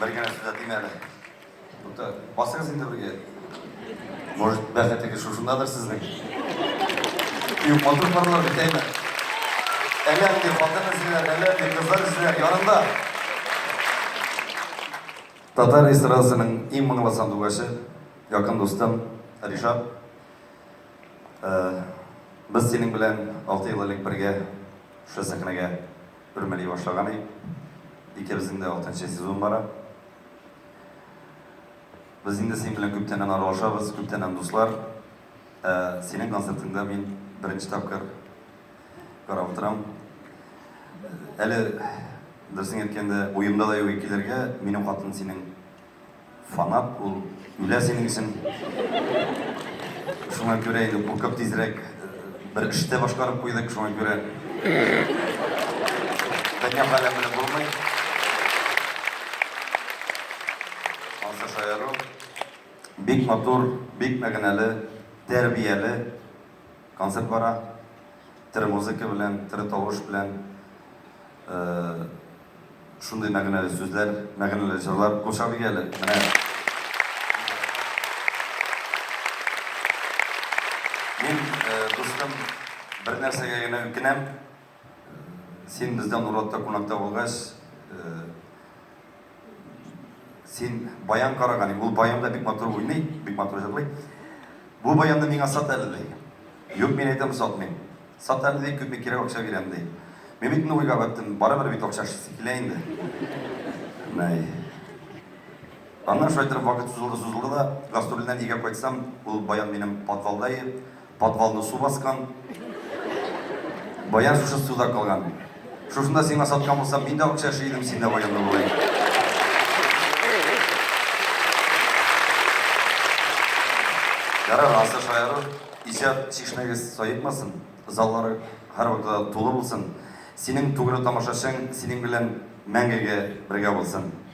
Бер генә сүз әйтим әле. Тукта, басыңыз инде бергә. Может, бәхетегез шушындадыр сезнең? Юк, матур парлар битәйме? Әллә нинди хатын эзлиләр, әллә нинди кызлар эзлиләр, янында. Татар эстрадасының иң моңлы сандугачы, якын дустым Ришат. Без синең белән алты ел элек бергә шушы сәхнәгә үрмәли башлаган идек. Икебезнең дә алтынчы сезон бара. Без инде синең белән күптәннән аралашабыз, күптәннән дуслар. Синең концертыңда мин беренче тапкыр карап утырам. Әле, дөресен әйткәндә, уемда да юк килергә, минем хатын синең Фанат ул үлә синең өчен. Шуңа күрә инде куркып тизрәк бер эш тә башкарып куйдык, шуңа күрә. Дөнья хәле белән булмый. Ансы шаяру. Бик матур, бик мәгънәле, тәрбияле. Концерт бара. Тере музыка белән, тере тавыш белән. Шундый мәгънәле сүзләр, мәгънәле җырлар. Курчак бик әле, менә. Мин, дустым, бер нәрсәгә генә үкенәм. Син бездә Нуратта кунакта булгач, Син баян караган, ул баян да бик матур уйный, бик матур җырлый. Бу баянны миңа сат әле ди. Юк, мин әйтәм сатмыйм. Сат әле ди, күпме кирәк акча бирәм ди. Мин бит инде уйга баттым, барыбер бит акча килә инде. Най. Аннан шулай торып вакыт сузылды, сузылды да, гастрольдән өйгә кайтсам, ул баян минем подвалда иде. Подвалны су баскан. Баян шушы суда калган. Шушында сиңа саткан булсам, мин дә акча эшли идем, син дә баянлы булай. Ярар, асы шаяру, иҗат чишмәгез саекмасын, заллары һәрвакытта тулы булсын. Синең тугры тамашачың синең белән мәңгегә бергә булсын.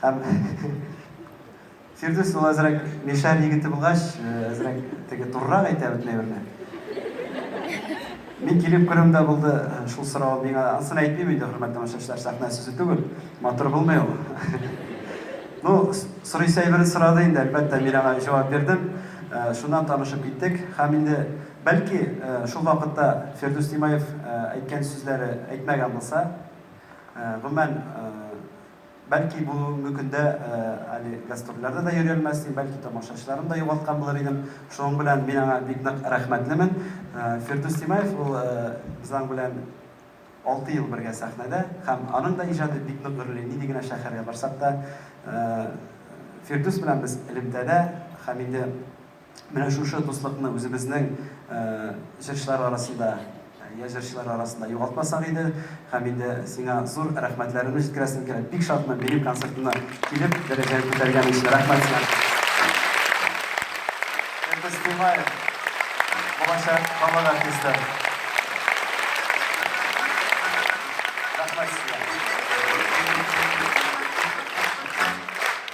Һәм Фирдүс ул әзрәк Мишәр егете булгач, әзрәк теге турырак әйтә бөтен әйберне. Мин килеп күрүем дә булды, шул сорау миңа ансын әйтмим инде, хөрмәт тамашачылар, сәхнә сүзе түгел, матур булмый ул. Ну, сорыйсы әйберен сорады инде, әлбәттә, мин аңа җавап бирдем. Шуннан танышып киттек. Һәм инде, бәлки, шул вакытта Фирдүс Тимаев әйткән сүзләре әйтмәгән булса, гомумән, Бәлки бүгенге көндә әле гастрольләрдә дә йөри алмассың, бәлки тамашачыларны да югалткан булыр идең. Шуның белән мин аңа бик нык рәхмәтлемен. Фирдүс Тимаев ул без аның белән алты ел бергә сәхнәдә һәм аның да иҗаты бик нык гөрли. Нинди генә шәһәргә барсак та Фирдүс белән без элемтәдә һәм инде Менә шушы дуслыкны үзебезнең җырчылар арасында, я җырчылар арасында югалтмасак иде. Һәм инде сиңа зур рәхмәтләремне җиткерәсем килә. Бик шатмын минем концертына килеп, дәрәҗәне күтәргән өчен. Рәхмәт сиңа. Фирдүс Тыймаев, булачак халык артисты. Рәхмәт сиңа.